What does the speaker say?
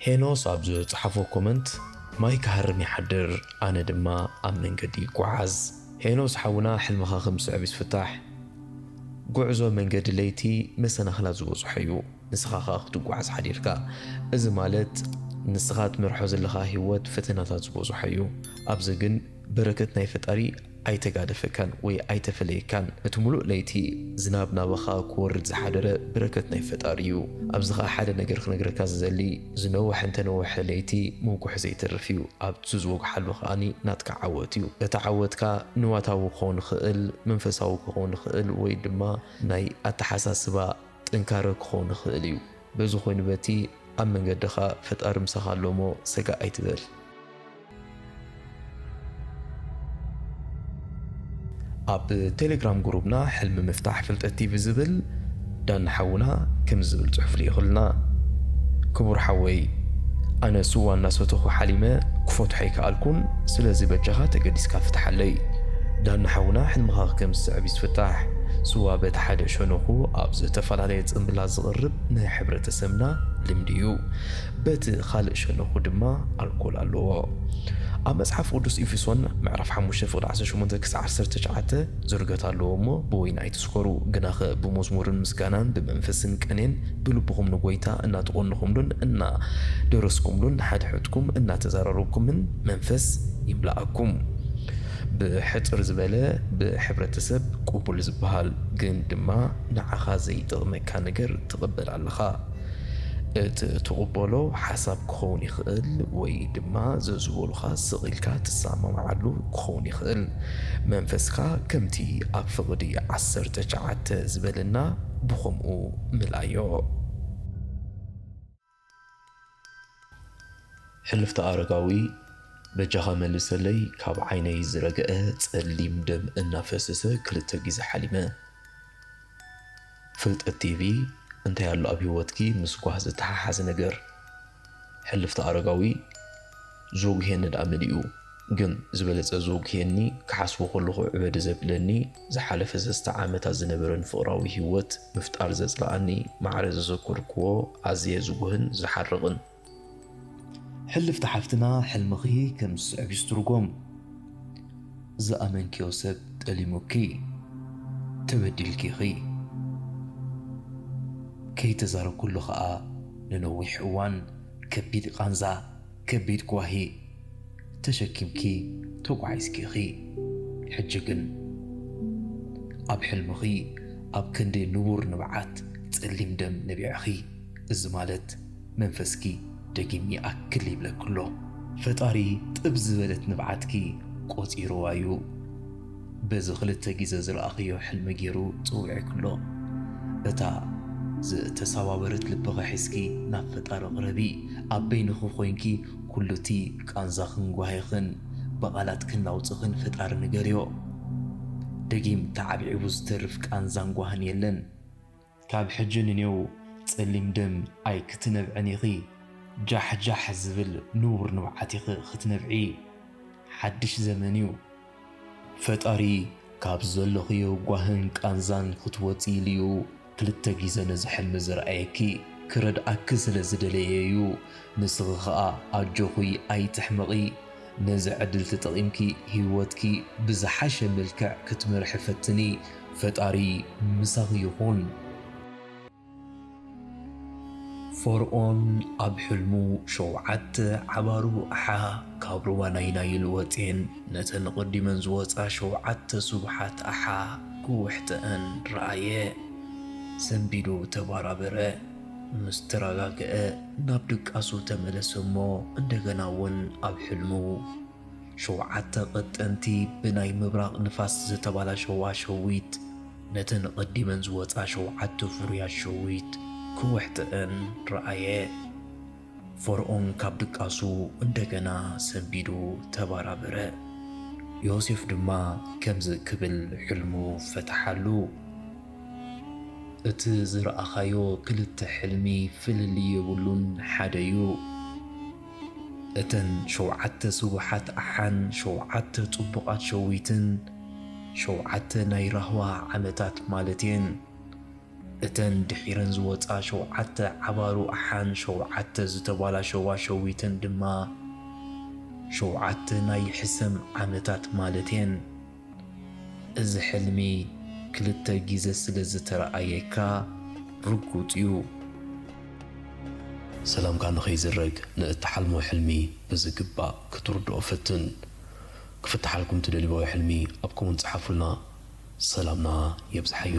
ሄኖስ ኣብ ዝጸሓፎ ኮመንት ማይ ክሃርም ይሓድር ኣነ ድማ ኣብ መንገዲ ይጓዓዝ። ሄኖስ ሓውና ሕልምኻ ከም ዝስዕብ ይስፍታሕ ጉዕዞ መንገዲ ለይቲ መሰናኽላት ዝበዝሖ እዩ ንስኻ ከኣ ክትጓዓዝ ሓዲርካ እዚ ማለት ንስኻ ትመርሖ ዘለኻ ሂወት ፈተናታት ዝበዝሖ እዩ ኣብዚ ግን በረከት ናይ ፈጣሪ ኣይተጋደፈካን ወይ ኣይተፈለየካን ነቲ ሙሉእ ለይቲ ዝናብ ናባኻ ክወርድ ዝሓደረ ብረከት ናይ ፈጣሪ እዩ ኣብዚ ከኣ ሓደ ነገር ክነግረካ ዝደሊ ዝነወሐ እንተነወሐ ለይቲ ምውግሑ ዘይተርፍ እዩ ኣብቱ ዝወግሓሉ ከኣ ናትካ ዓወት እዩ እቲ ዓወትካ ንዋታዊ ክኾን ይኽእል መንፈሳዊ ክኾን ይኽእል ወይ ድማ ናይ ኣተሓሳስባ ጥንካረ ክኾን ይኽእል እዩ በዚ ኮይኑ በቲ ኣብ መንገድኻ ፈጣሪ ምሳኻ ኣሎ እሞ ሰጋእ ኣይትበል። ኣብ ቴሌግራም ጉሩብና ሕልሚ ምፍታሕ ፍልጠት ቲቪ ዝብል ዳኒ ሓውና ከምዚ ዝብል ጽሑፍ ልኢኹልና ክቡር ሓወይ ኣነ ስዋ እናሰተኹ ሓሊመ ክፈትሖ ኣይከኣልኩን ስለዚ በጃኻ ተገዲስካ ፍትሓለይ። ዳኒ ሓውና ሕልምኻ ከም ዝስዕብ እዩ ዝፍታሕ ስዋ በቲ ሓደ ሸነኹ ኣብ ዝተፈላለየ ጽምብላት ዝቕርብ ናይ ሕብረተሰብና ልምዲ እዩ በቲ ኻልእ ሸነኹ ድማ ኣልኮል ኣለዎ። ኣብ መጽሓፍ ቅዱስ ኤፌሶን ምዕራፍ ሓሙሽተ ፍቕዲ ዓሰርተ ሸሞንተ ክሳዕ ዓሰርተ ትሽዓተ ዝርገት ኣለዎ እሞ ብወይኒ ኣይትስከሩ ግናኸ ብመዝሙርን ምስጋናን ብመንፈስን ቅኔን ብልብኹም ንጐይታ እናተቖንኹምሉን እናደረስኩምሉን ንሓድሕድኩም እናተዛራረብኩምን መንፈስ ይምላኣኩም ብሕጽር ዝበለ ብሕብረተሰብ ቅቡል ዝበሃል ግን ድማ ንዓኻ ዘይጠቕመካ ነገር ትቕበል ኣለኻ። እት ትቕበሎ ሓሳብ ክኸውን ይኽእል ወይ ድማ ዘዝበሉኻ ስቕ ኢልካ ትሳማማዓሉ ክኸውን ይኽእል። መንፈስካ ከምቲ ኣብ ፍቕዲ ዓሰርተ ቸዓተ ዝበለና ብኸምኡ ምላዮ። ሕልፍተ ኣረጋዊ በጃኻ መልሰለይ ካብ ዓይነይ ዝረገኣ ጸሊም ደም እናፈሰሰ ክልተ ግዜ ሓሊመ። ፍልጠት ቲቪ እንታይ ኣሎ ኣብ ሂወትኪ ምስ ጓህ ዝተሓሓዝ ነገር ሕልፍታ ኣረጋዊ ዝወጉሔኒ ድኣ መሊኡ ግን ዝበለጸ ዝወጉሔኒ ክሓስቦ ከለኹ ዕበዲ ዘብለኒ ዝሓለፈ ሰስተ ዓመታት ዝነበረን ፍቅራዊ ሂወት ምፍጣር ዘጽለኣኒ ማዕረ ዘዘከርክዎ ኣዝየ ዝጉህን ዝሓርቅን ሕልፍቲ ሓፍትና ሕልምኺ ከም ዝስዕብ ይስትርጎም ዝኣመንክዮ ሰብ ጠሊሙኪ ተበዲልኪ ኢኺ ከይተዛረብክሉ ከኣ ንነዊሕ እዋን ከቢድ ቓንዛ ከቢድ ጓሂ ተሸኪምኪ ተጓዒዝኪ ኢኺ ሕጂ ግን ኣብ ሕልምኺ ኣብ ክንዲ ንቡር ንብዓት ጸሊም ደም ነቢዕኺ እዚ ማለት መንፈስኪ ደጊም ይኣክል ይብለኪ ኣሎ። ፈጣሪ ጥብ ዝበለት ንብዓትኪ ቆጺርዋ ዩ በዚ ክልተ ግዘ ዝረኣኽዮ ሕልሚ ጌሩ ጸዊዕኪ ኣሎ። እታ ዝተሰባበረት ልብኺ ሒዝኪ ናብ ፈጣሪ ቅረቢ። ኣብ በይንኺ ኮይንኪ ኩሉ እቲ ቃንዛኽን ጓሂኽን ብቓላትክን ናውጽኽን ፈጣሪ ንገርዮ። ደጊም ተዓብዒቡ ዝተርፍ ቃንዛን ጓህን የለን። ካብ ሕጂ ንኔው ጸሊም ደም ኣይክትነብዕን ኢኺ። ጃሕ ጃሕ ዝብል ንቡር ንብዓት ኢኺ ክትነብዒ። ሓድሽ ዘመን እዩ። ፈጣሪ ካብ ዘለኽዮ ጓህን ቃንዛን ክትወጺ ኢሉ እዩ ክልተ ግዘ ነዚ ሕልሚ ዘርኣየኪ። ክረድኣኪ ስለ ዝደለየ እዩ። ንስኺ ከኣ ኣጆኺ ኣይትሕመቒ። ነዚ ዕድል ተጠቒምኪ ሂወትኪ ብዝሓሸ መልክዕ ክትመርሒ ፈትኒ። ፈጣሪ ምሳኺ ይኹን። ፈርኦን ኣብ ሕልሙ ሸውዓተ ዓባሩ ኣሓ ካብ ሩባ ናይ ናይል ወጼን ነተን ቐዲመን ዝወጻ ሸውዓተ ስቡሓት ኣሓ ክውሕጠኣን ረኣየ። ሰንቢዱ ተባራበረ። ምስ ተረጋግዐ ናብ ድቃሱ ተመለሰ እሞ እንደገና እውን ኣብ ሕልሙ ሸውዓተ ቀጠንቲ ብናይ ምብራቕ ንፋስ ዝተባላሸዋ ሸዊት ነተን ቐዲመን ዝወፃ ሸውዓተ ፍሩያት ሸዊት ክውሕጠእን ረኣየ። ፈርኦን ካብ ድቃሱ እንደገና ሰምቢዱ ተባራበረ። ዮሴፍ ድማ ከምዚ ክብል ሕልሙ ፈተሓሉ፣ እቲ ዝረኣኻዮ ክልተ ሕልሚ ፍልልይ የብሉን፣ ሓደ እዩ። እተን ሸውዓተ ስቡሓት ኣሓን ሸውዓተ ጽቡቓት ሸዊትን፣ ሸውዓተ ናይ ራህዋ ዓመታት ማለት እየን። እተን ድሒረን ዝወጻ ሸውዓተ ዓባሩ ኣሓን ሸውዓተ ዝተባላሸዋ ሸዊትን ድማ ሸውዓተ ናይ ሕሰም ዓመታት ማለት'የን። እዚ ሕልሚ ክልተ ግዜ ስለ ዝተረኣየካ ርጉጽ'ዩ። ሰላምካ ንኸይዝረግ ንእትሓልሞ ሕልሚ ብዝግባእ ክትርድኦ ፈትን። ክፍትሓልኩም ትደልዎ ሕልሚ ኣብ ኮመንት ጽሓፉልና ሰላምና የብዝሓዮ።